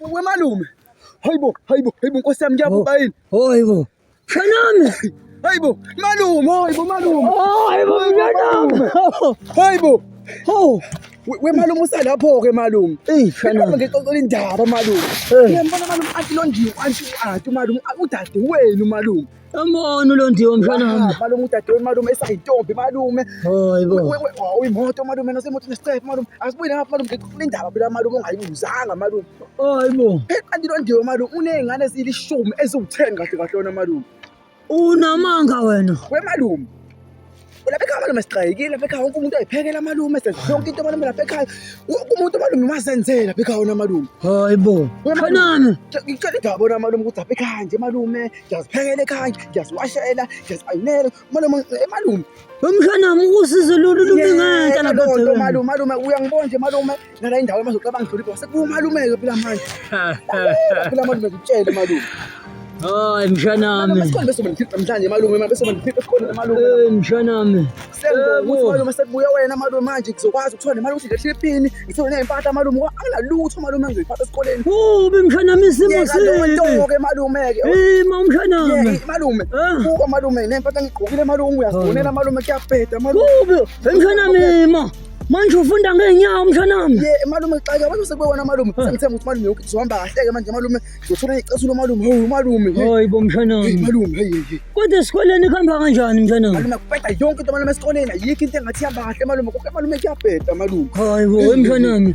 We malume. Hayibo, hayibo, hayibo Nkosi yami ngiyabhubha oh, yini? Oh, hayibo. Shanami. Hayibo, malume, hayibo malume. Oh, hayibo malume. Hayibo. Oh. We malume usalapho ke malume. Eh, shanami. Ngixoxela indaba malume. Ngiyambona malume anti londiwe, anti u-anti malume, udade wenu malume. Amona ulondiwe mfana wami. Ah, malume udadewenu malume esayintombi malume. Hayibo. Uyimoto malume nasemoto nescepe malume. Asibuye lapha malume ngikufundaba phela malume ongayibuzanga malume. Hayibo. Kanti londiwe malume unezingane ezilishumi eziwu-10 kahle kahle wena malume. Unamanga wena. We malume. Ulapha ekhaya malume siqayikile lapha ekhaya wonke umuntu ayiphekela malume senza yonke into malume lapha ekhaya. Wonke umuntu malume mazenzela lapha ekhaya wona malume. Hayi bo. Khanani. Ngicela indaba bona malume ukuthi lapha ekhaya nje malume ngiyaziphekela ekhaya ngiyaziwashela ngiyazipayinela malume eh, malume. Wemhlana usizo lolu lumi ngeke lapha. Malume malume uyangibona nje malume. thina la indawo manje ucabanga ngihlonipha wasekubuka umalumeke phela manje phela manje ngikutshele malume Hayi mshanami. Masikhona bese bengikhipha mhlanje malume manje bese bengikhipha esikhona nemalume. Eh mshanami. Sengokuthi malume sekubuya wena malume manje ngizokwazi ukuthola nemali ukuthi ngehle ipini ngithole nezimpahla malume anginalutho malume engizoyiphatha esikoleni. Ubi mshanami isimo sini? Ntoke malume ke. Eh ma mshanami. Malume. Kuba malume nempahla ngigqokile malume uyazifonela malume kuyabheda malume. Ubi mshanami ma. Manje ufunda ngeenyawo mshanami. Ye malume xaka abantu sekubona malume. Sengithemba ukuthi malume yonke izohamba kahle ke manje malume. Ngizothola icesulu lomalume. Hawu malume. Hayi bo mshanami. Hey malume hey hey. Kodwa esikoleni kuhamba kanjani mshanami? Malume kubheda yonke into malume esikoleni. Ayikho into engathi ihamba kahle malume. Konke malume kuyabheda malume. Hayi bo mshanami.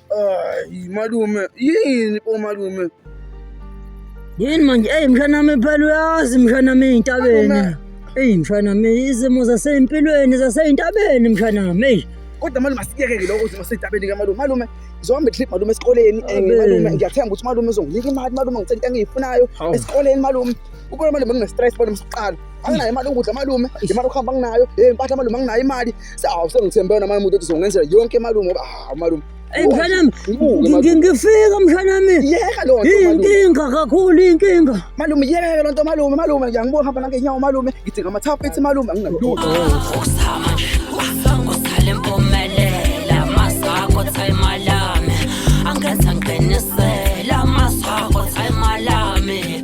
Ay malume yini bo malume yini manje eyi mshanami phela uyazi mshanami ey'ntabeni eyi mshanami izimo zasey'mpilweni zasey'ntabeni mshanami eyi kodwa malume asikuyeke-ke lokho ukuthi masey'ntabeni ke malume malume zohamba itrip malume esikoleni um Abe. malume ngiyathemba ukuthi malume uzonginika imali malume ngicela into engiyifunayo Hawu. esikoleni malume ubona malume ngine-stress malume siqala anginayo imali yokudla malume imali yokuhamba anginayo hey mpatha malume anginayo imali sawu sengithembe wena malume ukuthi uzongenzela yonke malume ngoba hawu malume Eyi mshanami, Ngibuke, malume. ngi- ngifika mshanami. yeka loo nto malume Iyinkinga kakhulu iyinkinga. malume yeka loo nto malume malume ngiyangibuka hamba nangenyawo malume ngidinga amathaphethi malume anginalutho Usama, usama, usale mpumelela, masako thayimalami, angenza ngiqinisela, masako thayimalami.